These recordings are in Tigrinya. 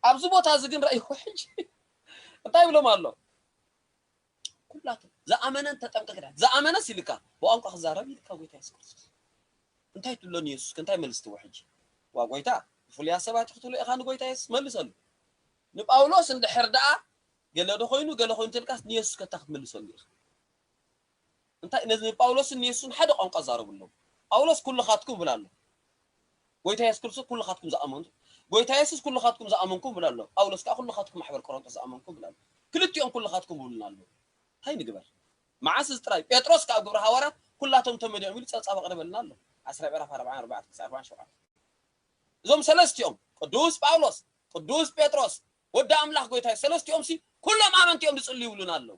ኣብዚ ቦታ እዚ ግን ረእይዎ ሕጂ እንታይ ይብሎም ኣሎ ኩላቶም ዝኣመነን ተጠምቀ ክዳን ዝኣመነስ ኢልካ ብቋንቋ ክዛረብ ኢልካ ጎይታ የሱስ ክርስቶስ እንታይ ትብሎ ንየሱስ ከ እንታይ መልስ ትህቦ ሕጂ ዋ ጎይታ ብፍሉያት ሰባት ክትብሎ ኢኻ ንጎይታ የሱስ መልሰሉ ንጳውሎስ እንድሕር ደኣ ገለ ዶ ኮይኑ ገለ ኮይኑ ተልካስ ንየሱስ ከታ ክትመልሰሉ ኢኻ እንታይ ነዚ ንጳውሎስን ንየሱስን ሓደ ቋንቋ ዛረብሎም ጳውሎስ ኩልኻትኩም ይብል ኣሎ ጎይታ የሱስ ክርስቶስ ኩልኻትኩም ዝኣመንቱ ጎይታ የሱስ ኩልኻትኩም ዝኣመንኩም ይብል ኣሎ ጳውሎስ ከኣ ኩልኻትኩም ማሕበር ቆሮንቶስ ዝኣመንኩም ይብል ኣሎ ክልቲኦም ኩልኻትኩም ይብሉና ኣለዉ እንታይ ንግበር መዓስ እዚ ጥራይ ጴጥሮስ ከኣ ኣብ ግብረ ሃዋርያት ኩላቶም ተመሊኦም ኢሉ ጸብጻብ ኣቕርበልና ኣሎ ዓስራይ ምዕራፍ ኣርብዓን ኣርባዕተ ክሳዕ ኣርባዓን ሸውዓተ እዞም ሰለስቲኦም ቅዱስ ጳውሎስ ቅዱስ ጴጥሮስ ወዲ ኣምላኽ ጎይታ ሰለስቲኦምሲ ኩሎም ኣመንቲ እዮም ዝጽልዩ ይብሉና ኣለዉ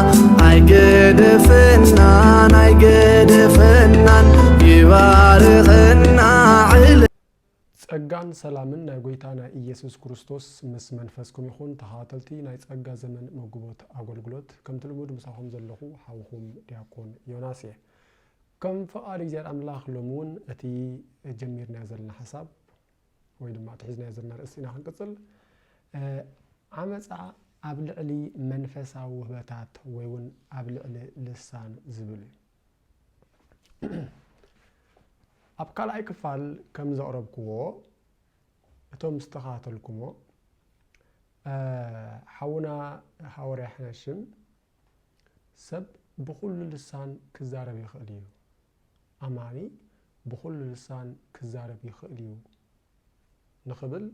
ኣይገደፈናን ኣይገደፈናን ይባርኸና ዕለ ጸጋን ሰላምን ናይ ጐይታና ኢየሱስ ክርስቶስ ምስ መንፈስኩም ይኹን። ተኸታተልቲ ናይ ጸጋ ዘመን መጉቦት ኣገልግሎት ከምቲ ልሙድ ምሳኹም ዘለኹ ሓውኹም ዲያቆን ዮናስ እየ። ከም ፍቓድ እግዚኣብሔር ኣምላኽ ሎሚ እውን እቲ ጀሚርናዮ ዘለና ሓሳብ ወይ ድማ እቲ ሒዝናዮ ዘለና ኣርእስቲ ኢና ክንቅጽል። ዓመጻ ኣብ ልዕሊ መንፈሳዊ ውህበታት ወይ እውን ኣብ ልዕሊ ልሳን ዝብል እዩ። ኣብ ካልኣይ ክፋል ከም ዘቕረብክዎ እቶም ዝተኸታተልኩሞ ሓውና ሃወርያ ሕነሽም ሰብ ብዅሉ ልሳን ኪዛረብ ይኽእል እዩ። ኣማኒ ብዅሉ ልሳን ኪዛረብ ይኽእል እዩ ንኽብል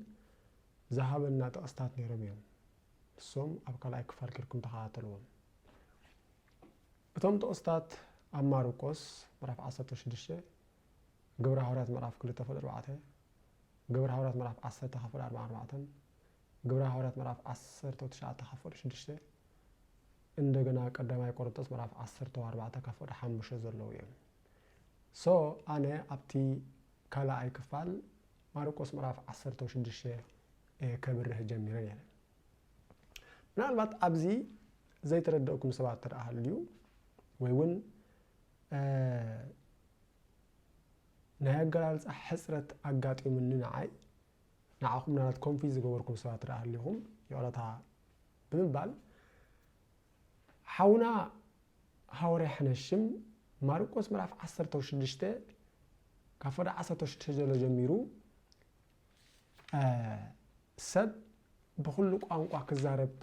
ዝሃበና ጥቕስታት ነይሮም እዮም። ንሶም ኣብ ካልኣይ ክፋል ኬድኩም ተኸታተልዎም። እቶም ጥቕስታት ኣብ ማርቆስ ምዕራፍ ዓሰርተ ሽዱሽተ፣ ግብረ ሃዋርያት ምዕራፍ ክልተ ክፍል ኣርባዕተ፣ ግብረ ሃዋርያት ምዕራፍ ዓሰርተ ክፍል ኣርባዓን ኣርባዕተን፣ ግብረ ሃዋርያት ምዕራፍ ዓሰርተው ትሽዓተ ካብ ፍቕዲ ሽዱሽተ እንደገና ቀዳማይ ቆሮንጦስ ምዕራፍ ዓሰርተው ኣርባዕተ ካብ ፍቕዲ ሓሙሽተ ዘለዉ እዮም ሶ ኣነ ኣብቲ ካልኣይ ክፋል ማርቆስ ምዕራፍ ዓሰርተው ሽዱሽተ ከብርህ ጀሚረ ነይረ ምናልባት ኣብዚ ዘይተረደእኩም ሰባት ተደኣ ሃልዩ ወይ እውን ናይ ኣገላልፃ ሕፅረት ኣጋጢሙኒ ንዓይ ንዓኹም ምናልባት ኮንፊዝ ዝገበርኩም ሰባት ደኣ ሃሊኹም ይቕረታ ብምባል ሓውና ሃወርያ ሕነሽም ማርቆስ ምዕራፍ ዓሰርተ ሽዱሽተ ካብ ፈዶ ዓሰርተ ሽዱሽተ ዘሎ ጀሚሩ ሰብ ብኩሉ ቋንቋ ክዛረብ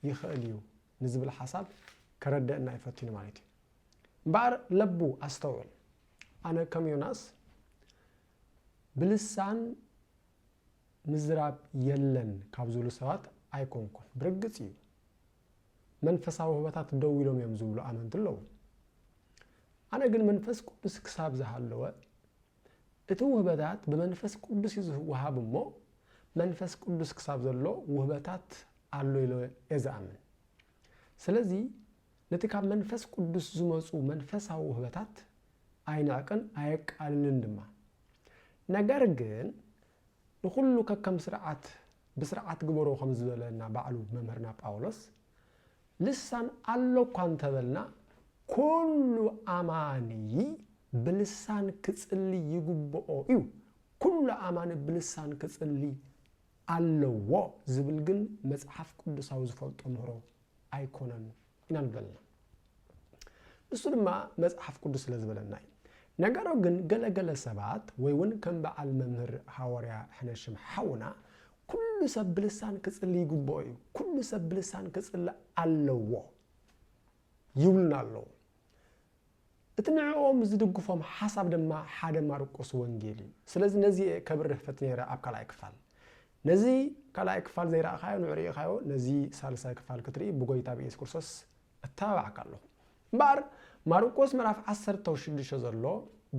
ይኽእል እዩ ንዝብል ሓሳብ ከረደእና ይፈትኑ ማለት እዩ እምበኣር ለቡ ኣስተውዕል ኣነ ከም ዮናስ ብልሳን ምዝራብ የለን ካብ ዝብሉ ሰባት ኣይኮንኩን። ብርግጽ እዩ መንፈሳዊ ህበታት ደው ኢሎም እዮም ዝብሉ ኣመንቲ ኣለዉ። ኣነ ግን መንፈስ ቅዱስ ክሳብ ዝሃለወ እቲ ውህበታት ብመንፈስ ቅዱስ እዩ ዝወሃብ እሞ መንፈስ ቅዱስ ክሳብ ዘሎ ውህበታት ኣሎ ኢለ እየ ዝኣምን። ስለዚ ነቲ ካብ መንፈስ ቅዱስ ዝመጹ መንፈሳዊ ውህበታት ኣይንዕቅን ኣየቃልልን ድማ። ነገር ግን ንኹሉ ከከም ስርዓት ብስርዓት ግበሮ ከም ዝበለና ባዕሉ መምህርና ጳውሎስ ልሳን ኣሎ እኳ እንተበልና ኩሉ ኣማኒ ብልሳን ክጽሊ ይግብኦ እዩ ኩሉ ኣማኒ ብልሳን ክጽሊ ኣለዎ ዝብል ግን መጽሓፍ ቅዱሳዊ ዝፈልጦ ምህሮ ኣይኮነን ኢና ንበልና። ንሱ ድማ መጽሓፍ ቅዱስ ስለ ዝበለና እዩ። ነገሩ ግን ገለ ገለ ሰባት ወይ እውን ከም በዓል መምህር ሃወርያ ሕነሽም ሓውና ኩሉ ሰብ ብልሳን ክጽሊ ይግብኦ እዩ፣ ኩሉ ሰብ ብልሳን ክጽሊ ኣለዎ ይብሉና ኣለዉ። እቲ ንዕኦም ዝድግፎም ሓሳብ ድማ ሓደ ማርቆስ ወንጌል እዩ። ስለዚ ነዚ እየ ከብርህ ፈትኔረ ኣብ ካልኣይ ክፋል። ነዚ ካልኣይ ክፋል ዘይረኣኻዮ ንዑ ርኢኻዮ ነዚ ሳልሳይ ክፋል ክትርኢ ብጎይታ ብኢየሱስ ክርስቶስ እተባባዓካ ኣለኹ። እምበኣር ማርቆስ ምዕራፍ ዓሰርተ ሽዱሽተ ዘሎ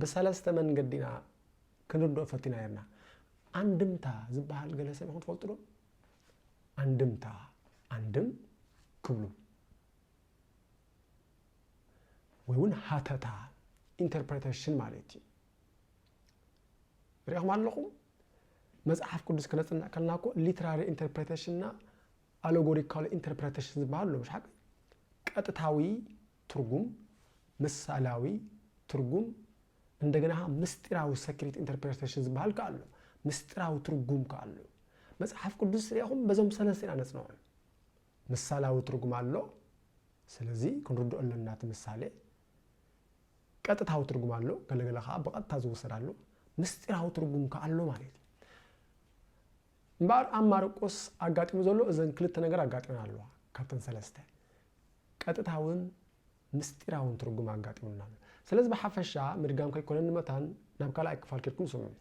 ብሰለስተ መንገዲ ኢና ክንርድኦ ፈቲና ነርና። ኣንድምታ ዝበሃል ገለ ሰብ ይኹን ትፈልጡ ዶ? ኣንድምታ ኣንድም ክብሉ ወይ ውን ሃተታ ኢንተርፕረተሽን ማለት እዩ ሪኢኹም ኣለኹም መፅሓፍ ቅዱስ ክነፅንዕ ከለና እኮ ሊትራሪ ኢንተርፕሬቴሽን እና ኣሎጎሪካል ኢንተርፕሬቴሽን ዝበሃል ኣሎ ምሽ ሓቂ ቀጥታዊ ትርጉም ምሳላዊ ትርጉም እንደገና ምስጢራዊ ሰክሪት ኢንተርፕሬቴሽን ዝበሃል ከ ኣሎ ምስጢራዊ ትርጉም ከ ኣሎ መፅሓፍ ቅዱስ ሪኢኹም በዞም ሰለስተ ኢና ነፅንዖም ምሳላዊ ትርጉም ኣሎ ስለዚ ክንርድኦ ኣለና እቲ ምሳሌ። ቀጥታዊ ትርጉም ኣሎ ገለ ገለ ከኣ ብቐጥታ ዝውሰድ ኣሎ። ምስጢራዊ ትርጉም ከኣ ኣሎ ማለት እዩ። እምበኣር ኣብ ማርቆስ ኣጋጢሙ ዘሎ እዘን ክልተ ነገር ኣጋጢመን ኣለዋ ካብተን ሰለስተ ቀጥታውን ምስጢራውን ትርጉም ኣጋጢሙና ኣሎ። ስለዚ ብሓፈሻ ምድጋም ከይኮነኒ መታን ናብ ካልኣይ ክፋል ኬድኩም ስምዑ።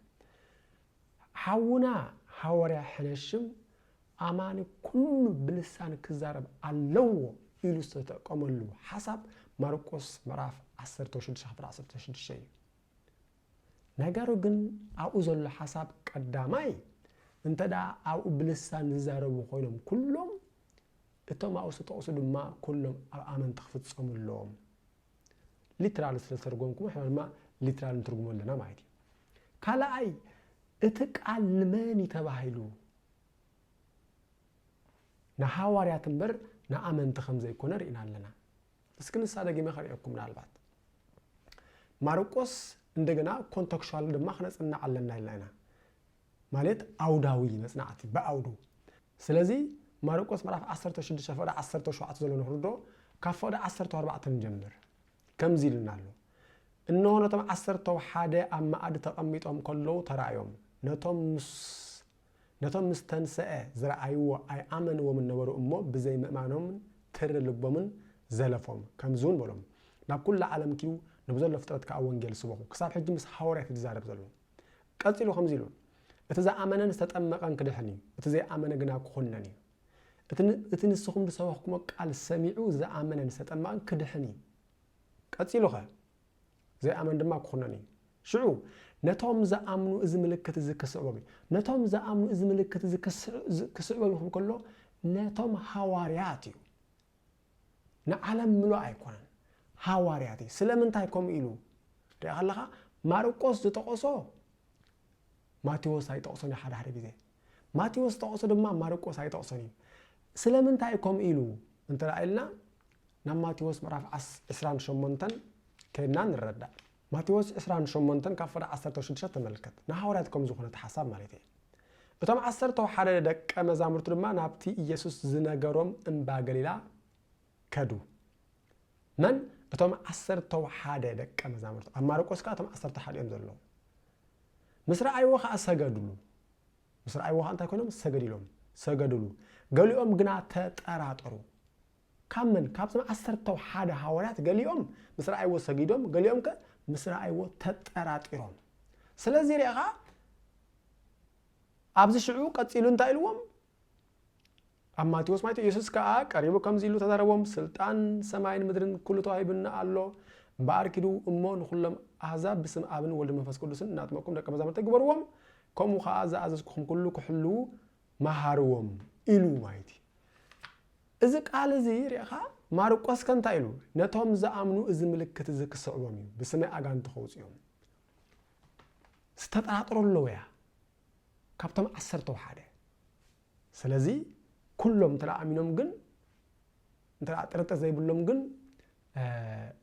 ሓውና ሃወርያ ሕነሽም ኣማኒ ኩሉ ብልሳን ክዛረብ ኣለዎ ኢሉ ዝተጠቀመሉ ሓሳብ ማርቆስ ምዕራፍ ዓሰርተ ሽዱሽተ ክፍል ዓሰርተ ሽዱሽተ እዩ። ነገሩ ግን ኣብኡ ዘሎ ሓሳብ ቀዳማይ እንተ ደኣ ኣብኡ ብልሳን ዝዛረቡ ኮይኖም ኩሎም እቶም ኣብኡ ዝተጠቕሱ ድማ ኩሎም ኣብ ኣመንቲ ክፍጸሙ ኣለዎም። ሊትራል ስለ ዝተርጎምኩሞ ንሕና ድማ ሊትራል ንትርጉሞ ኣለና ማለት እዩ ካልኣይ እቲ ቃል ንመን እዩ ተባሂሉ ንሃዋርያት እምበር ንኣመንቲ ከም ዘይኮነ ርኢና ኣለና እስኪ ንሳ ደጊመ ከርእየኩም ምናልባት ማርቆስ እንደገና ኮንተክሽዋል ድማ ክነፅናዕ ኣለና ኢልና ኢና ማለት ዓውዳዊ መጽናዕቲ፣ ብዓውዱ። ስለዚ ማርቆስ ምዕራፍ ዓሰርተ ሽዱሽተ ፍቕዲ ዓሰርተ ሸውዓተ ዘሎ ንኽርድኦ ካብ ፍቕዲ ዓሰርተው ኣርባዕተ ንጀምር። ከምዚ ኢሉና ኣሎ፣ እንሆ ነቶም ዓሰርተው ሓደ ኣብ መኣዲ ተቐሚጦም ከለዉ ተራእዮም፣ ነቶም ምስ ነቶም ምስ ተንሰአ ዝረኣይዎ ኣይኣመንዎምን ነበሩ እሞ ብዘይ ምእማኖምን ትሪ ልቦምን ዘለፎም። ከምዚ እውን በሎም፣ ናብ ኩሉ ዓለም ኪዱ ንብዘሎ ፍጥረት ከኣ ወንጌል ስበኹ። ክሳብ ሕጂ ምስ ሃዋርያት እዩ ዝዛረብ ዘሎ። ቀጺሉ ከምዚ ኢሉ፣ እቲ ዝኣመነን ዝተጠመቐን ክድሕን እዩ፣ እቲ ዘይኣመነ ግና ክኹነን እዩ። እቲ ንስኹም ዝሰበኽኩሞ ቃል ሰሚዑ ዝኣመነን ዝተጠመቐን ክድሕን እዩ። ቀጺሉኸ? ዘይኣመን ድማ ክኹነን እዩ። ሽዑ ነቶም ዝኣምኑ እዚ ምልክት እዚ ክስዕቦም እዩ። ነቶም ዝኣምኑ እዚ ምልክት እዚ ክስዕቦም ይኹም ከሎ ነቶም ሃዋርያት እዩ። ንዓለም ምሉእ ኣይኮነን ሃዋርያት እዩ ስለምንታይ ከምኡ ኢሉ ርኢኻ ኣለኻ ማርቆስ ዝጠቐሶ ማቴዎስ ኣይጠቕሶን እዩ ሓደ ሓደ ግዜ ማቴዎስ ጠቕሶ ድማ ማርቆስ ኣይጠቕሶን እዩ ስለምንታይ ከምኡ ኢሉ እንተ ኢልና ናብ ማቴዎስ ምዕራፍ 28 ከድና ንረዳእ ማቴዎስ ዕስራን ሸሞንተን ካብ ፍረ ዓሰርተው ሽዱሽተ ተመልከት፣ ንሃዋርያት ከም ዝዀነ እቲ ሓሳብ ማለተይ እየ። እቶም ዓሰርተው ሓደ ደቀ መዛሙርቱ ድማ ናብቲ ኢየሱስ ዝነገሮም እምባ ገሊላ ከዱ። መን? እቶም ዓሰርተው ሓደ ደቀ መዛሙርቱ። ኣብ ማርቆስ ከኣ እቶም ዓሰርተው ሓደ እዮም ዘለዉ። ምስ ረኣይዎ ከኣ ሰገዱሉ። ምስ ረኣይዎ ከኣ እንታይ ኰይኖም? ሰገድ ኢሎም ሰገዱሉ። ገሊኦም ግና ተጠራጠሩ። ካብ መን? ካብቶም ዓሰርተው ሓደ ሃዋርያት ገሊኦም ምስ ረኣይዎ ሰጊዶም፣ ገሊኦም ከ ምስ ረኣይዎ ተጠራጢሮም። ስለዚ ርኢኻ፣ ኣብዚ ሽዑ ቀጺሉ እንታይ ኢልዎም? ኣብ ማቴዎስ ማይቶ ኢየሱስ ከኣ ቀሪቡ ከምዚ ኢሉ ተዛረቦም፣ ስልጣን ሰማይን ምድርን ኩሉ ተዋሂቡኒ ኣሎ፣ እምበኣር ኪዱ እሞ ንኹሎም ኣህዛብ ብስም ኣብን ወልድን መንፈስ ቅዱስን እናጥመቅኩም ደቀ መዛሙርተይ ግበርዎም፣ ከምኡ ኸኣ ዝኣዘዝኩኹም ኩሉ ክሕልዉ መሃርዎም ኢሉ ማለት እዩ። እዚ ቃል እዚ ርኢኻ፣ ማርቆስከ እንታይ ኢሉ? ነቶም ዝኣምኑ እዚ ምልክት እዚ ክስዕቦም እዩ፣ ብስመይ ኣጋንንቲ ከውጽኡ እዮም። ዝተጠራጠሩ ኣለዉ እያ፣ ካብቶም ዓሰርተው ሓደ። ስለዚ ኩሎም እንተ ኣሚኖም ግን እንተ ጥርጥር ዘይብሎም ግን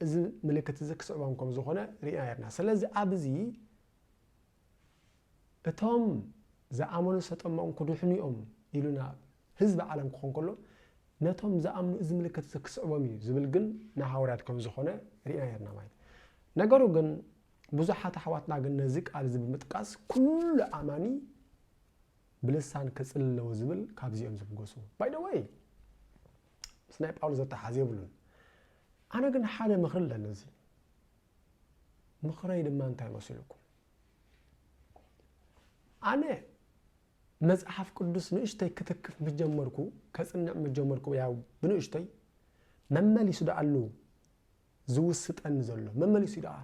እዚ ምልክት እዚ ክስዕቦም ከም ዝኾነ ርኢና ነርና። ስለዚ ኣብዚ እቶም ዝኣመኑ ዝተጠመቑን ክድሕኑ እዮም ኢሉና ህዝቢ ዓለም ክኾን ከሎ ነቶም ዝኣምኑ እዚ ምልክት እዚ ክስዕቦም እዩ ዝብል ግን ንሃዋርያት ከም ዝኾነ ርኢና ነርና ማለት ነገሩ ግን ብዙሓት ኣሕዋትና ግን ነዚ ቃል እዚ ብምጥቃስ ኩሉ ኣማኒ ብልሳን ክጽል ኣለዎ ዝብል ካብዚኦም ዝብገሱ ባይ ደ ወይ ምስ ናይ ጳውሎስ ዘተሓዝ የብሉን ኣነ ግን ሓደ ምኽሪ ኣለኒ እዚ ምኽረይ ድማ እንታይ መሲሉኩም? ኣነ መጽሓፍ ቅዱስ ንእሽተይ ክትክፍ ምስ ጀመርኩ ከጽንዕ ምስ ጀመርኩ ያው ብንእሽተይ መመሊሱ ደኣሉ ዝውስጠኒ ዘሎ መመሊሱ ደኣ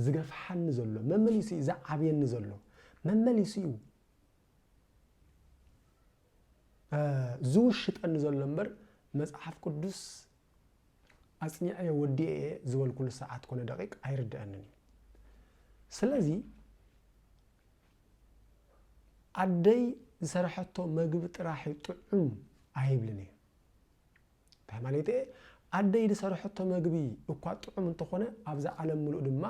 ዝገፍሓኒ ዘሎ መመሊሱ እዩ ዝዓብየኒ ዘሎ መመሊሱ እዩ ዝውሽጠኒ ዘሎ እምበር መጽሓፍ ቅዱስ ኣጽኒዐዮ ወዲኤ እየ ዝበልኩሉ ሰዓት ኮነ ደቂቅ ኣይርደኣንን እዩ ስለዚ ኣደይ ዝሰረሐቶ መግቢ ጥራሕ እዩ ጥዑም ኣይብልን እየ እንታይ ማለት እየ ኣደይ ዝሰረሐቶ መግቢ እኳ ጥዑም እንተኾነ ኣብዛ ዓለም ምሉእ ድማ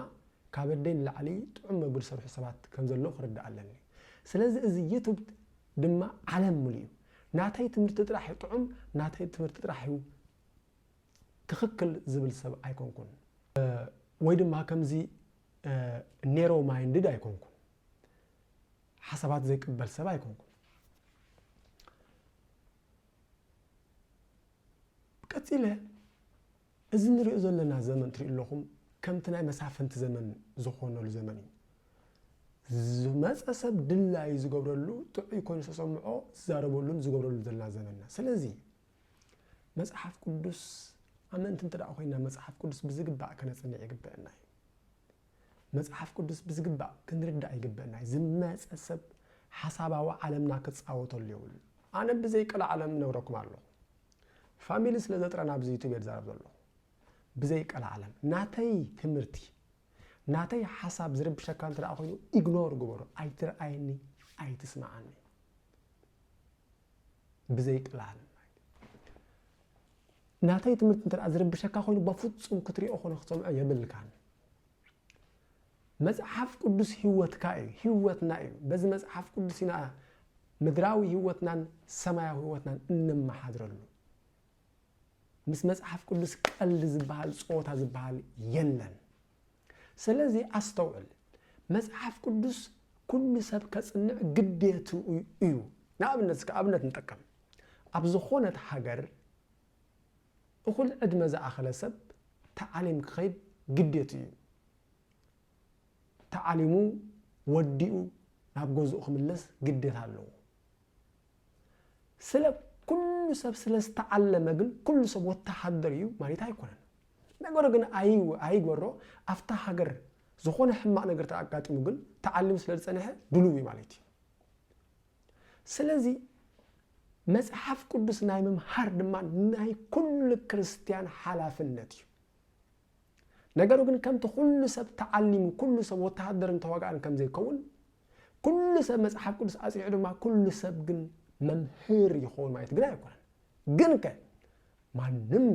ካብ ኣደይ ንላዕሊ ጥዑም መግቢ ዝሰርሑ ሰባት ከም ዘለዉ ክርዳእ ኣለኒ ስለዚ እዚ ዩቱብ ድማ ዓለም ምሉእ እዩ ናተይ ትምህርቲ ጥራሕ እዩ ጥዑም ናተይ ትምህርቲ ጥራሕ እዩ ትኽክል ዝብል ሰብ ኣይኮንኩን ወይ ድማ ከምዚ ኔሮ ማይንድድ ኣይኮንኩን ሓሳባት ዘይቅበል ሰብ ኣይኮንኩን ቀፂለ እዚ ንሪኦ ዘለና ዘመን ትሪኡ ኣለኹም ከምቲ ናይ መሳፍንቲ ዘመን ዝኾነሉ ዘመን እዩ። ዝመፀ ሰብ ድላዩ ዝገብረሉ ጥዑይ ኮይኑ ዝተሰምዖ ዝዛረበሉን ዝገብረሉን ዘለና ዘመንና ስለዚ መፅሓፍ ቅዱስ ኣመንቲ እንተ ኮይና መፅሓፍ ቅዱስ ብዝግባእ ከነፅንዕ ይግበአና እዩ መፅሓፍ ቅዱስ ብዝግባእ ክንርዳእ ይግበአና እዩ ዝመፀ ሰብ ሓሳባዊ ዓለምና ክፃወተሉ የብሉ ኣነ ብዘይቀል ዓለም ነብረኩም ኣለኹ ፋሚሊ ስለ ዘጥረ ናብዚ ዩቱብ እየ ዝዛረብ ዘለኹ ብዘይ ቀላዓለም ናተይ ትምህርቲ ናተይ ሓሳብ ዝርብሸካ እንተ ኮይኑ ኢግኖር ግበሮ ኣይትርኣየኒ ኣይትስምዓኒ ብዘይ ቀላዓለም ናተይ ትምህርቲ እንተ ዝርብሸካ ኮይኑ በፍፁም ክትሪኦ ኮነ ክትሰምዖ የብልካን መጽሓፍ ቅዱስ ህይወትካ እዩ፣ ህይወትና እዩ። በዚ መጽሓፍ ቅዱስ ኢና ምድራዊ ህይወትናን ሰማያዊ ህይወትናን እነመሓድረሉ። ምስ መጽሓፍ ቅዱስ ቀልዲ ዝበሃል ጸወታ ዝበሃል የለን። ስለዚ ኣስተውዕል፣ መጽሓፍ ቅዱስ ኩሉ ሰብ ከጽንዕ ግዴቱ እዩ። ንኣብነት እስከ ኣብነት ንጠቀም። ኣብ ዝኾነት ሃገር እኹል ዕድመ ዝኣኸለ ሰብ ተዓሊም ክኸይድ ግዴቱ እዩ። ተዓሊሙ ወዲኡ ናብ ገዝኡ ክምለስ ግዴታ ኣለዎ። ስለ ኩሉ ሰብ ስለ ዝተዓለመ ግን ኩሉ ሰብ ወተሃደር እዩ ማለት ኣይኮነን። ነገሩ ግን ኣይግበሮ ኣብታ ሃገር ዝኾነ ሕማቕ ነገር ተኣጋጢሙ ግን ተዓሊሙ ስለ ዝፀንሐ ድልው እዩ ማለት እዩ። ስለዚ መፅሓፍ ቅዱስ ናይ ምምሃር ድማ ናይ ኩሉ ክርስትያን ሓላፍነት እዩ። ነገሩ ግን ከምቲ ኩሉ ሰብ ተዓሊሙ ኩሉ ሰብ ወተሃደርን ተዋጋእን ከም ዘይከውን ኩሉ ሰብ መጽሓፍ ቅዱስ ኣጽኒዑ ድማ ኩሉ ሰብ ግን መምህር ይኸውን ማለት ግን ኣይኮነን። ግን ከ ማንም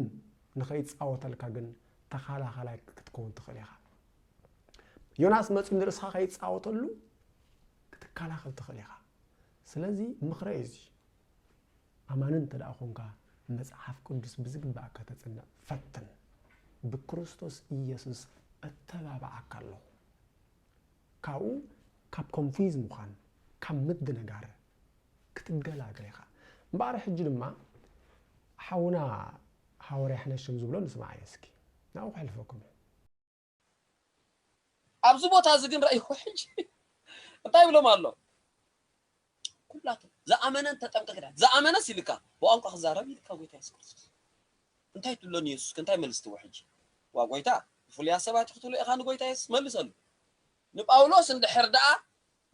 ንኸይጻወተልካ ግን ተኻላኻላይ ክትከውን ትኽእል ኢኻ። ዮናስ መጽኡ ንርእስኻ ከይጻወተሉ ክትከላኸል ትኽእል ኢኻ። ስለዚ ምኽረ እዩ እዚ። ኣማኒ እንተ ዀንካ፣ መጽሓፍ ቅዱስ ብዚግባእ ከተጽንዕ ፈትን። ብክርስቶስ ኢየሱስ እተባብዓካ ኣለኹ። ካብኡ ካብ ኮንፍዩዝ ምዃን፣ ካብ ምድንጋር ክትገላገል ኢኻ። እምበኣር ሕጂ ድማ ሓውና ሃወርያ ሕነሽም ዝብሎ ንስምዓዮ እስኪ። ናብኡ ከሕልፈኩም እየ። ኣብዚ ቦታ እዚ ግን ርእይኹ ሕጂ እንታይ ይብሎም ኣሎ ኩላቶም ዝኣመነን ተጠንቀቂ ዳ ዝኣመነስ ኢልካ ብቋንቋ ክዛረብ ኢልካ ጎይታ የሱስ ክርስቶስ እንታይ ትብሎ ንየሱስ እንታይ መልስ ትቦ ሕጂ ዋ ጎይታ ብፍሉይ ኣሰባት ክትብሎ ኢኻ ንጎይታ የሱስ መልሰሉ ንጳውሎስ እንድሕር ደኣ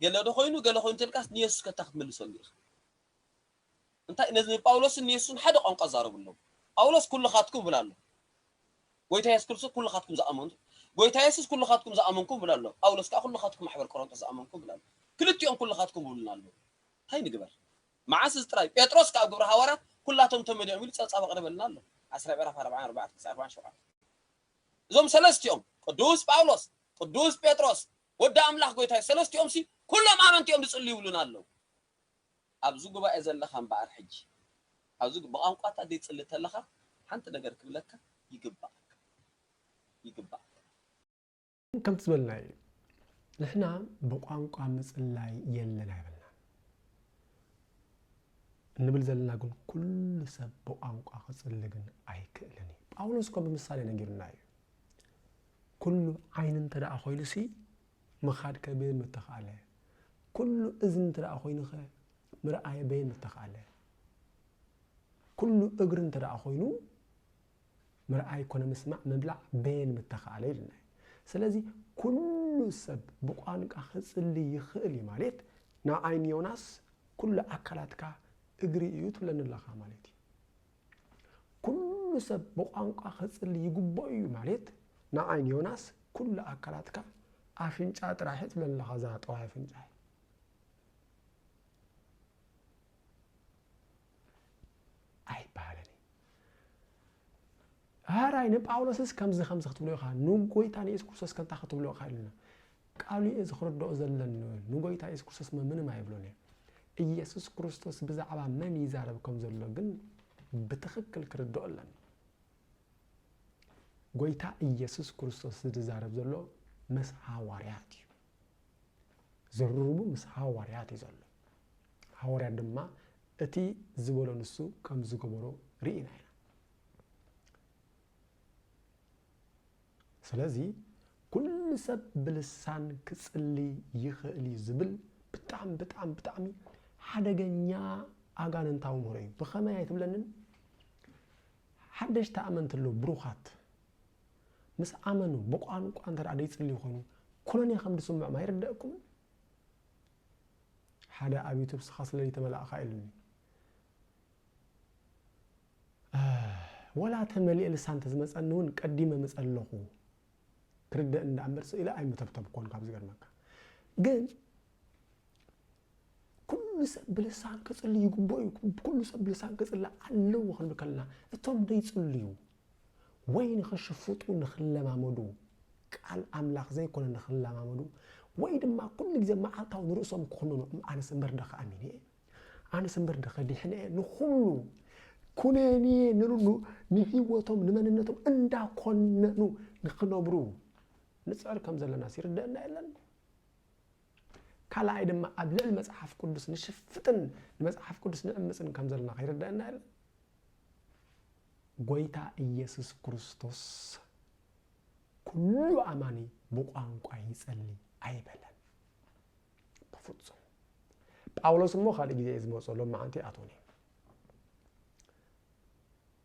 ገለ ዶ ኮይኑ ገለ ኮይኑ ተልካስ ንየሱስ ከታ ክትመልሰሉ ኢኻ እንታይ ነዚ ንጳውሎስን ንየሱስን ሓደ ቋንቋ ኣዛረብሎም ጳውሎስ ኩልኻትኩም ይብል ኣሎ ጎይታ የሱስ ክርስቶስ ኩልኻትኩም ዝኣመንቱ ጎይታ የሱስ ኩልኻትኩም ዝኣመንኩም ይብል ኣሎ ጳውሎስ ከኣ ኩልኻትኩም ማሕበር ቆሮንጦስ ዝኣመንኩም ይብል ኣሎ ክልቲኦም ኩልኻትኩም ይብሉና ኣለዉ እንታይ ንግበር መዓስ እዚ ጥራይ ጴጥሮስ ከኣ ኣብ ግብሪ ሃዋርያት ኩላቶም ተመሊኦም ኢሉ ጸብጻብ ኣቕርበልና ኣሎ ዓስራይ ምዕራፍ ኣርብዓን ኣርባዕተ ክሳዕ ኣርባዓን ሸውዓተ እዞም ሰለስቲኦም ቅዱስ ጳውሎስ ቅዱስ ጴጥሮስ ወዲ ኣምላኽ ጎይታ ሰለስቲኦምሲ ኩሎም ኣመንቲ እዮም ዝጽልዩ ይብሉና ኣለዉ ኣብዚ ጉባኤ ዘለኻ እምበኣር ሕጂ ኣብዚ ብቛንቋታት ዘይትጽሊ ተለኻ ሓንቲ ነገር ክብለካ ይግበኣካ ይግበኣካ። ከምቲ ዝበልናዮ ንሕና ብቛንቋ ምጽላይ የለን ኣይበልናን። እንብል ዘለና ግን ኩሉ ሰብ ብቛንቋ ክጽሊ ግን ኣይክእልን እዩ። ጳውሎስ እኳ ብምሳሌ ነጊሩና እዩ። ኩሉ ዓይኒ እንተ ደኣ ኮይኑሲ ምኻድ ከ በየን ምተኽኣለ? ኩሉ እዝኒ እንተደኣ ኮይኑ ከ ምርኣይ በየን ምተኽኣለ? ኩሉ እግሪ እንተደኣ ኮይኑ ምርኣይ ኮነ ምስማዕ ምብላዕ በየን ምተኽኣለ ኢልና እዩ። ስለዚ ኩሉ ሰብ ብቋንቃ ክጽሊ ይኽእል እዩ ማለት ንዓይ ንዮናስ ኩሉ ኣካላትካ እግሪ እዩ ትብለኒ ኣለኻ ማለት እዩ። ኩሉ ሰብ ብቋንቋ ክጽሊ ይግብኦ እዩ ማልት ንዓይ ንዮናስ ኩሉ ኣካላትካ ኣፍንጫ ጥራይ ሕጽብ ኣለኻ እዛ ጠዋይ ኣፍንጫይ። ኣይበሃልን ሃራይ ንጳውሎስስ ከምዚ ከምዚ ክትብሎ ኢኻ ንጎይታ ንየሱስ ክርስቶስ ከንታ ክትብሎ ኢኻ ኢሉና ቃሉ እየ ዝክርደኦ ዘለኒ ንጎይታ የሱስ ክርስቶስመ ምንም ኣይብሎን እየ እየሱስ ክርስቶስ ብዛዕባ መን ይዛረብ ከም ዘሎ ግን ብትክክል ክርደኦ ኣለኒ ጎይታ እየሱስ ክርስቶስ ዝዛረብ ዘሎ መስ ሃዋርያት እዩ ዝርርቡ ምስ ሃዋርያት እዩ ዘሎ ሃዋርያት ድማ እቲ ዝበሎ ንሱ ከም ዝገበሮ ርኢና ኢና ስለዚ ኩሉ ሰብ ብልሳን ክጽሊ ይኽእል እዩ ዝብል ብጣዕሚ ብጣዕሚ ብጣዕሚ ሓደገኛ ኣጋንንታዊ ምህሮ እዩ። ብኸመይ ኣይትብለንን? ሓደሽቲ ኣመንቲ ኣለዉ ብሩኻት ምስ ኣመኑ ብቋንቋ እንተ ደይጽልዩ ኮይኑ ኩነኔ ከም ዝስምዖም ኣይርደእኩምን? ሓደ ኣብ ዩቱብ ስኻ ስለ ዘይተመላእካ ኢሉኒ ወላ ተመሊኤ ልሳን ተዝመጸኒ ውን ቀዲመ ምጸለኹ ክርደእኒ ደኣ እምበር ስቅ ኢለ ኣይምተብተብኮን ካብ ዝገርመካ ግን ኩሉ ሰብ ብልሳን ክጽሊ ይግብኦ እዩ ኩሉ ሰብ ብልሳን ክጽሊ ኣለዎ ክንብል ከለና እቶም ደይጽልዩ ወይ ንኽሽፍጡ ንኽለማመዱ ቃል ኣምላኽ ዘይኮነ ንኽለማመዱ ወይ ድማ ኩሉ ግዜ መዓልታዊ ንርእሶም ክኹንኑ ኣነስ እምበር ደኸ ኣሚን እየ ኣነስ እምበር ድኸ ዲሕነ እየ ንኹሉ ኩነኔ ንሉ ንህይወቶም ንመንነቶም እንዳኮነኑ ንክነብሩ ንፅዕር ከም ዘለና ይርደአና የለን ካልኣይ ድማ ኣብ ልዕሊ መፅሓፍ ቅዱስ ንሽፍጥን ንመፅሓፍ ቅዱስ ንዕምፅን ከም ዘለና ከይርደአና የለን ጎይታ ኢየሱስ ክርስቶስ ኩሉ ኣማኒ ብቋንቋ ይጸሊ ኣይበለን ብፍጹም ጳውሎስ እሞ ካልእ ግዜ እየ ዝመፅኦ ሎመዓንቲ ኣቶኒ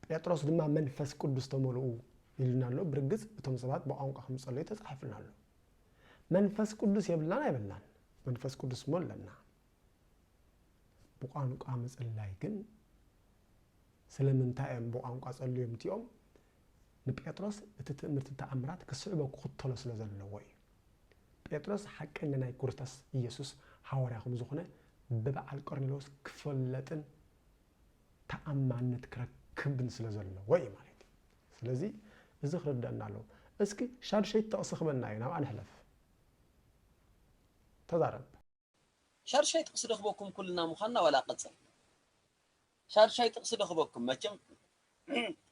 ጴጥሮስ ድማ መንፈስ ቅዱስ ተመልኡ ይልና ኣሎ ብርግፅ እቶም ሰባት ብቋንቋ ከም ዝፀለዩ ተፃሒፍና ኣሎ መንፈስ ቅዱስ የብልናን ኣይብልናን መንፈስ ቅዱስ እሞ ኣለና ብቋንቋ ምፅላይ ግን ስለምንታይ እዮም ብቋንቋ ፀልዮም እቲኦም ንጴጥሮስ እቲ ትእምርቲ ተኣምራት ክስዕቦ ክኽተሎ ስለ ዘለዎ እዩ ጴጥሮስ ሓቀኛ ናይ ኩርስታስ ኢየሱስ ሃዋርያ ከም ዝኾነ ብበዓል ቆርኔሎስ ክፈለጥን ተኣማንነት ክረክብን ስለ ዘለዎ እዩ ማለት እዩ። ስለዚ እዚ ክርደኣና ኣለዎ። እስኪ ሻዱሸይቲ ጥቕሲ ክበና እዩ ናብኣ ንሕለፍ። ተዛረብ። ሻዱሻይ ጥቅሲ ዶ ክበኩም ኩልና ምኳንና ዋላ ቀጽል ሻዱሻይ ጥቅሲ ዶ ክበኩም መቸም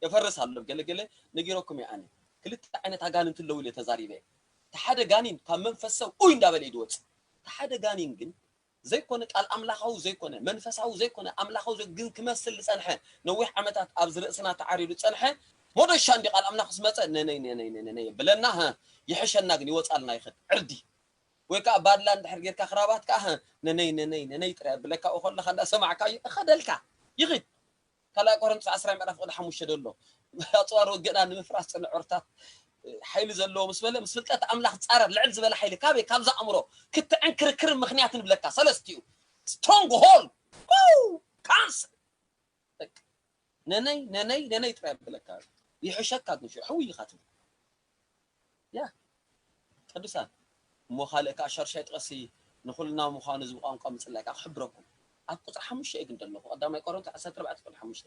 የፈርስ ኣሎ ገለ ገለ ነጊረኩም እየ ኣነ ክልተ ዓይነት ኣጋንንቲ ኣለዉ ኢለ ተዛሪበ እየ እቲ ሓደ ጋኒን ካብ መንፈስ ሰብ ኡይ እንዳበለ እዩ ዝወጽእ እቲ ሓደ ጋኒን ግን ዘይኮነ ቃል ኣምላኻዊ ዘይኮነ መንፈሳዊ ዘይኮነ ኣምላኻዊ ዘይ- ግን ክመስል ዝጸንሐ ነዊሕ ዓመታት ኣብዚ ርእስና ተዓሪዱ ዝጸንሐ ሞዶሻ እንዲ ቃል ኣምላኽ ምስ መጸ ነነይ ነነይ ነነይ ነነይ የብለና ሀ ይሕሸና ግን ይወጻልና ይኸድ ዕርዲ ወይ ከኣ ባድላ እንድሕር ጌርካ ክራባት ከኣ ህህ ነነይ ነነይ ነነይ ጥራይ ኣብለካ ኣብኡ ከለካ እንዳ ሰማዕካዮ እኸደልካ ይኺድ ካልኣይ ቆረንቶስ ዓስራይ ምዕራፍ ቁጽሪ ሓሙሽተ ደሎ ኣጽዋር ውግእና ንምፍራስ ጽንዑርታት ሓይሊ ዘለዎ ምስ በለ ምስ ፍልጠት ኣምላኽ ጻረር ልዕል ዝበለ ሓይሊ ካበይ ካብዛ ኣእምሮ ክትዕን ክርክርን ምክንያትን ብለካ ሰለስቲኡ ስትሮንግ ሆል ካንስ በቃ ነነይ ነነይ ነነይ ጥራይ ኣብለካ ይሕሸካ ጉሹ ሕውይ ኢካ ትብል ያ ቅዱሳን እሞ ካልእ ከኣ ሻዱሻይ ጥቅሲ ንኩልና ምኳኑ እዚ ብቋንቋ ምጽላይ ከኣ ክሕብረኩም ኣብ ቁጽሪ ሓሙሽተ እየ ግን ደለኩ ቀዳማይ ቆሮንቶ ዓሰርተ ኣርባዕተ ቁጽሪ ሓሙሽተ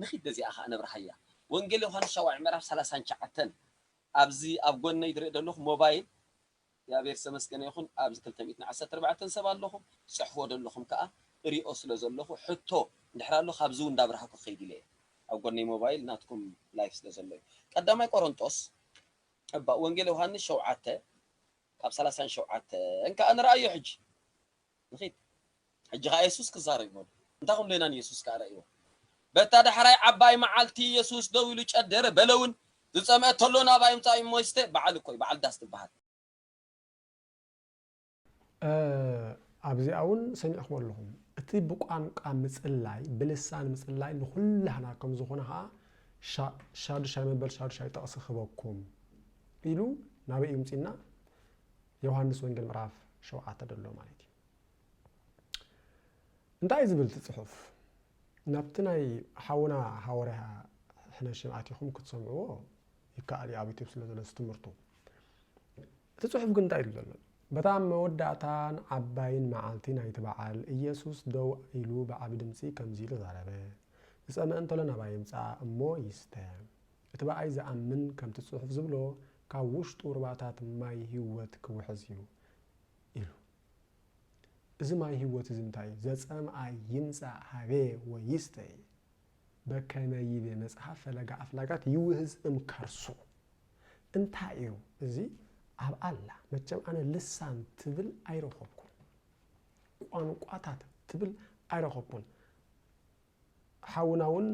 ንኪድ በዚኣ ከኣ ነብርሃያ ወንጌል ዮውሃንስ ሻውዓይ ምዕራፍ ሰላሳን ትሽዓተን ኣብዚ ኣብ ጎነይ ዝርኢ ደለኩ ሞባይል እግዚኣብሔር ዝተመስገነ ይኹን ኣብዚ ክልተ ሚእትን ዓሰርተ ኣርባዕተን ሰብ ኣለኹ ትጽሕፍዎ ደለኹም ከኣ እሪኦ ስለ ዘለኹ ሕቶ እንድሕር ኣሎ ካብዚ ውን እንዳብራህኩ ክኸይድ ኢለ እየ ኣብ ጎነይ ሞባይል ናትኩም ላይፍ ስለ ዘሎ እዩ ቀዳማይ ቆሮንጦስ እባ ወንጌል ዮሃንስ ሸውዓተ ካብ ሰላሳን ሸውዓተን ከኣ ንርኣዮ ሕጂ። ንኺድ ሕጂ ኸኣ የሱስ ክዛረብ ኢዩ በሉ። እንታይ ክንብሎ ኢና ንየሱስ ከኣ ረኣይዎ። በታ ዳሕራይ ዓባይ መዓልቲ የሱስ ደው ኢሉ ጨደረ፣ በለ እውን ዝጸምአ ተሎ ናባይ ምጻእ እሞ ይስተ፣ በዓል እኮ እዩ፣ በዓል ዳስ ትበሃል። ኣብዚኣ እውን ሰሚዕክሞ ኣለኹም። እቲ ብቋንቋ ምጽላይ ብልሳን ምጽላይ ንኹላህና ከም ዝኾነ ኸኣ ሻዱሻይ መበል ሻዱሻይ ጥቕሲ ክህበኩም ኢሉ ናበይ እዩ ምጺና ዮሃንስ ወንጌል ምዕራፍ ሸውዓተ ደሎ ማለት እዩ እንታይ ዝብል እቲ ጽሑፍ ናብቲ ናይ ሓውና ሃወርያ ሕነሽም ኣቲኹም ክትሰምዕዎ ይከኣል እዩ ኣብ ዩቲብ ስለ ዘሎ ትምህርቱ እቲ ጽሑፍ ግን እንታይ ኢሉ ዘሎ በታ መወዳእታን ዓባይን መዓልቲ ናይቲ በዓል ኢየሱስ ደው ኢሉ ብዓቢ ድምፂ ከምዚ ኢሉ ዛረበ ዝፀመ እንተሎ ናባይ ይምፃእ እሞ ይስተ እቲ ብኣይ ዝኣምን ከምቲ ጽሑፍ ዝብሎ ካብ ውሽጡ ሩባታት ማይ ህይወት ክውሕዝ እዩ ኢሉ። እዚ ማይ ህይወት እዚ እንታይ እዩ? ዘጸምኣይ ይምጻእ ሃቤ ወይስተ እየ። በከመ ይቤ መጽሐፍ ፈለገ ኣፍላጋት ይውህዝ እም ከርሱ። እንታይ እዩ እዚ ኣብ ኣላ? መቸም ኣነ ልሳን ትብል ኣይረኸብኩን። ቋንቋታት ትብል ኣይረኸብኩን። ሓውና ውን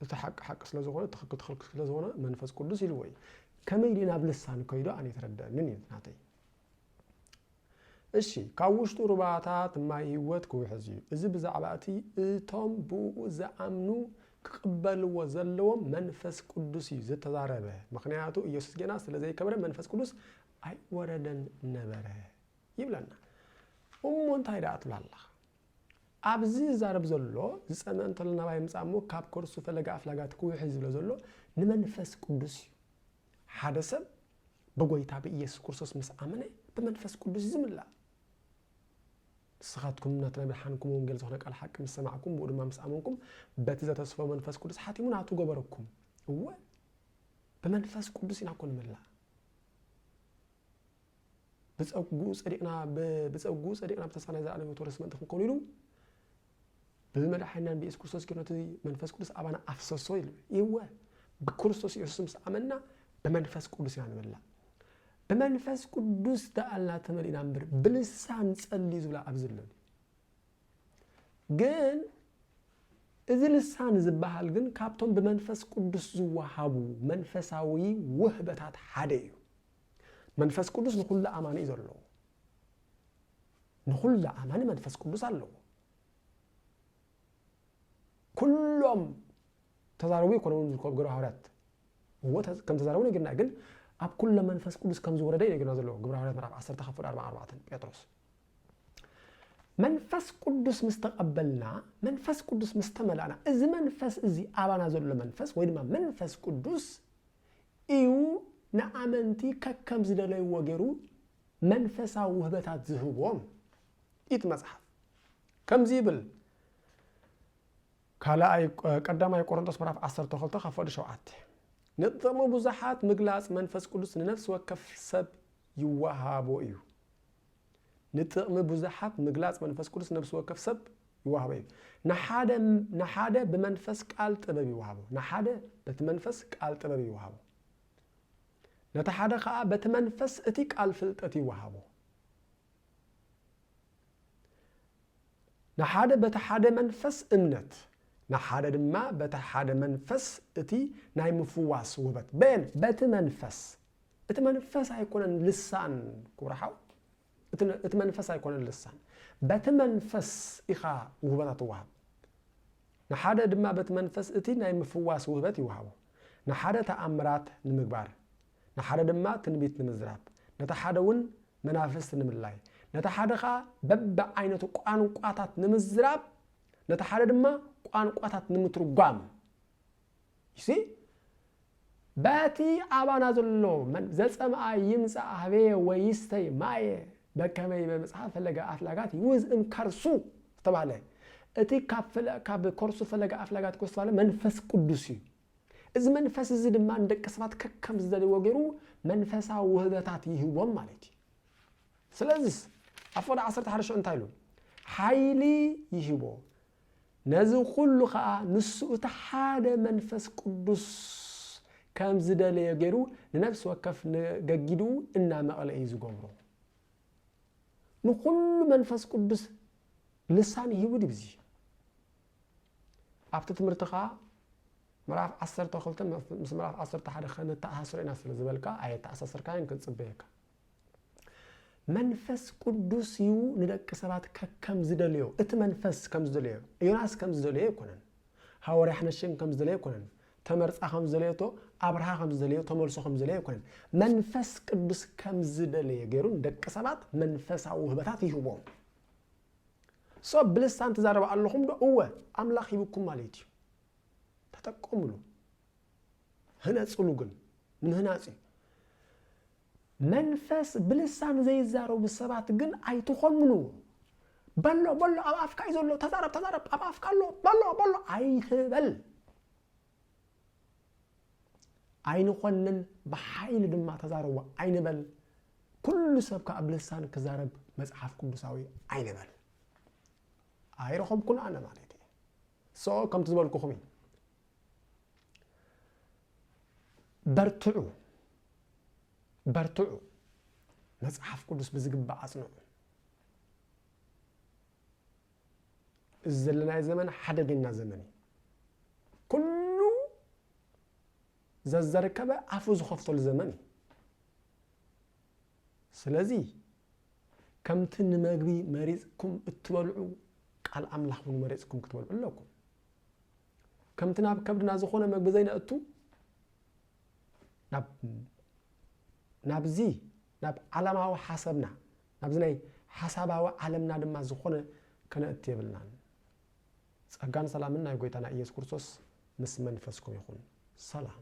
እቲ ሓቂ ሓቂ ስለ ዝኾነ ትኽክል ትኽክል ስለ ዝኾነ መንፈስ ቅዱስ ኢልዎ እዩ ከመይ ድዩ ናብ ልሳን ከይዱ ኣነ የተረደአንን እዩ ናተይ እሺ ካብ ውሽጡ ሩባታት ማይ ህይወት ክውሕዝ እዩ እዚ ብዛዕባ እቲ እቶም ብኡ ዝኣምኑ ክቕበልዎ ዘለዎም መንፈስ ቅዱስ እዩ ዝተዛረበ ምክንያቱ ኢየሱስ ጌና ስለ ዘይከብረ መንፈስ ቅዱስ ኣይወረደን ነበረ ይብለና እሞ እንታይ ደኣ ትብላ ኣለኻ ኣብዚ ዝዛረብ ዘሎ ዝጸመ እንተሎ ናባይ ይምጻእ እሞ ካብ ከርሱ ፈለገ ኣፍላጋት ክውሕዝ ዝብሎ ዘሎ ንመንፈስ ቅዱስ እዩ። ሓደ ሰብ ብጐይታ ብኢየሱስ ክርስቶስ ምስ ኣመነ ብመንፈስ ቅዱስ እዩ ዝምላእ። ንስኻትኩም ናቲ ናይ ብርሃንኩም ወንጌል ዝኾነ ቃል ሓቂ ምስ ሰማዕኩም ብኡ ድማ ምስ ኣመንኩም በቲ ዘተስፎ መንፈስ ቅዱስ ሓቲሙ ናቱ ገበረኩም። እወ ብመንፈስ ቅዱስ ኢና እኮ ንምላእ። ብጸግኡ ጸዲቕና ብጸግኡ ጸዲቕና ብተስፋ ናይ ዘላለም ሕይወት ወረስ ምእንቲ ክንከኑ ኢሉ ብመድሓኒናን ብኢየሱስ ክርስቶስ ጌሩ ነቲ መንፈስ ቅዱስ ኣባና ኣፍሰሶ ይብል ይወ ብክርስቶስ ኢየሱስ ምስ ኣመንና ብመንፈስ ቅዱስ ኢና ንመላእ ብመንፈስ ቅዱስ ደኣልና ተመሊእና እምበር ብልሳን ጸልዩ ዝብላ ኣብዚ ኣለኒ ግን እዚ ልሳን ዝበሃል ግን ካብቶም ብመንፈስ ቅዱስ ዝወሃቡ መንፈሳዊ ውህበታት ሓደ እዩ መንፈስ ቅዱስ ንኹሉ ኣማኒ እዩ ዘለዎ ንኹሉ ኣማኒ መንፈስ ቅዱስ ኣለዎ ኩሎም ተዛረቡ ይኮነውን ዝርከቡ ግብረ ሃዋርያት እዎ ከም ተዛረቡ ነግርና ግን ኣብ ኩለ መንፈስ ቅዱስ ከም ዝወረደ እዩ ነግርና ዘለዎ ግብረ ሃዋርያት ምዕራፍ 1 ካብ ፍቅዲ 44 ጴጥሮስ መንፈስ ቅዱስ ምስ ተቐበልና መንፈስ ቅዱስ ምስ ተመላእና እዚ መንፈስ እዚ ኣባና ዘሎ መንፈስ ወይ ድማ መንፈስ ቅዱስ ኢዩ ንኣመንቲ ከከም ዝደለይዎ ገይሩ መንፈሳዊ ውህበታት ዝህቦም። ኢቲ መጽሓፍ ከምዚ ይብል ካልኣይ ቀዳማይ ቆሮንቶስ ምዕራፍ ዓሰርተ ክልተ ካብ ፍቕዲ ሸውዓተ ንጥቕሚ ብዙሓት ምግላጽ መንፈስ ቅዱስ ንነፍሲ ወከፍ ሰብ ይወሃቦ እዩ። ንጥቕሚ ብዙሓት ምግላጽ መንፈስ ቅዱስ ነብሲ ወከፍ ሰብ ይወሃቦ እዩ። ንሓደ ንሓደ ብመንፈስ ቃል ጥበብ ይወሃቦ፣ ንሓደ በቲ መንፈስ ቃል ጥበብ ይወሃቦ፣ ነቲ ሓደ ኸኣ በቲ መንፈስ እቲ ቃል ፍልጠት ይወሃቦ። ንሓደ በቲ ሓደ መንፈስ እምነት፣ ንሓደ ድማ በቲ ሓደ መንፈስ እቲ ናይ ምፍዋስ ውበት፣ በየን? በቲ መንፈስ። እቲ መንፈስ ኣይኮነን ልሳን ክቡር ሓው፣ እቲ መንፈስ ኣይኮነን ልሳን፣ በቲ መንፈስ ኢኻ ውህበታ ትወሃብ። ንሓደ ድማ በቲ መንፈስ እቲ ናይ ምፍዋስ ውህበት ይወሃቦ፣ ንሓደ ተኣምራት ንምግባር፣ ንሓደ ድማ ትንቢት ንምዝራብ፣ ነቲ ሓደ እውን መናፍስቲ ንምልላይ፣ ነቲ ሓደ ኸዓ በብዓይነቱ ቋንቋታት ንምዝራብ፣ ነቲ ሓደ ድማ ቋንቋታት ንምትርጓም ይሲ በቲ ኣባና ዘሎ ዘፀምኣ ይምፃእ ሃበየ ወይስተይ ማየ በከመይ በመፅሓፍ ፈለገ ኣፍላጋት ይውዝ እም ከርሱ ዝተባህለ እቲ ካብ ከርሱ ፈለገ ኣፍላጋት ዝተባህለ መንፈስ ቅዱስ እዩ እዚ መንፈስ እዚ ድማ ንደቂ ሰባት ከከም ዝደልይዎ ገይሩ መንፈሳዊ ውህበታት ይህቦም ማለት እዩ። ስለዚስ ኣብ ፍቕዲ ዓሰርተ ሓደ ሽዑ እንታይ ኢሉ? ሓይሊ ይህቦ ነዚ ኩሉ ከዓ ንሱ እቲ ሓደ መንፈስ ቅዱስ ከም ዝደለዮ ገይሩ ንነፍሲ ወከፍ ንገጊድኡ እናመቐለ እዩ ዝገብሮ። ንኩሉ መንፈስ ቅዱስ ልሳን ይህቡ ድዩ? ኣብቲ ትምህርቲ ከኣ ምዕራፍ ዓሰርተ ክልተ ምስ ምዕራፍ ዓሰርተ ሓደ ከነተኣሳስሮ ኢና ስለ ዝበልካ ኣየተኣሳሰርካዮን ክንጽበየካ መንፈስ ቅዱስ እዩ ንደቂ ሰባት ከከም ዝደልዮ እቲ መንፈስ ከም ዝደልዮ ዮናስ ከም ዝደልዮ ኣይኮነን ሃወርያ ሕነሽን ከም ዝደልዮ ኣይኮነን ተመርፃ ከም ዝደለየቶ ኣብርሃ ከም ዝደልዮ ተመልሶ ከም ዝደልዮ ኣይኮነን መንፈስ ቅዱስ ከም ዝደለየ ገይሩ ንደቂ ሰባት መንፈሳዊ ውህበታት ይህቦም ሰብ ብልሳን ትዛረብ ኣለኹም ዶ እወ ኣምላኽ ሂብኩም ማለት እዩ ተጠቀምሉ ህነጽሉ ግን ንምህናጽ እዩ መንፈስ ብልሳን ዘይዛረቡ ሰባት ግን ኣይትኾንኑ በሎ በሎ ኣብ ኣፍካ እዩ ዘሎ ተዛረብ ተዛረብ ኣብ ኣፍካ ኣሎ በሎ በሎ ኣይትበል ኣይንኾንን ብሓይሊ ድማ ተዛረቡ ኣይንበል። ኩሉ ሰብ ከዓ ብልሳን ክዛረብ መጽሓፍ ቅዱሳዊ ኣይንበል። ኣይረኸብኩን ኣነ ማለት እዩ ሶ ከምቲ ዝበልኩኹም እዩ በርትዑ በርትዑ መጽሓፍ ቅዱስ ብዝግባእ ኣጽንዑ እዚ ዘለናዮ ዘመን ሓደገኛ ዘመን እዩ። ኩሉ ዘዘርከበ ኣፉ ዝኸፍተሉ ዘመን እዩ። ስለዚ ከምቲ ንመግቢ መሪፅኩም እትበልዑ ቃል ኣምላኽ እውን መሪፅኩም ክትበልዑ ኣለኩም። ከምቲ ናብ ከብድና ዝኾነ መግቢ ዘይነእቱ ናብዚ ናብ ዓለማዊ ሓሰብና፣ ናብዚ ናይ ሓሳባዊ ዓለምና ድማ ዝኾነ ከነእቱ የብልናን። ጸጋን ሰላምን ናይ ጎይታና ኢየሱስ ክርስቶስ ምስ መንፈስኩም ይኹን። ሰላም።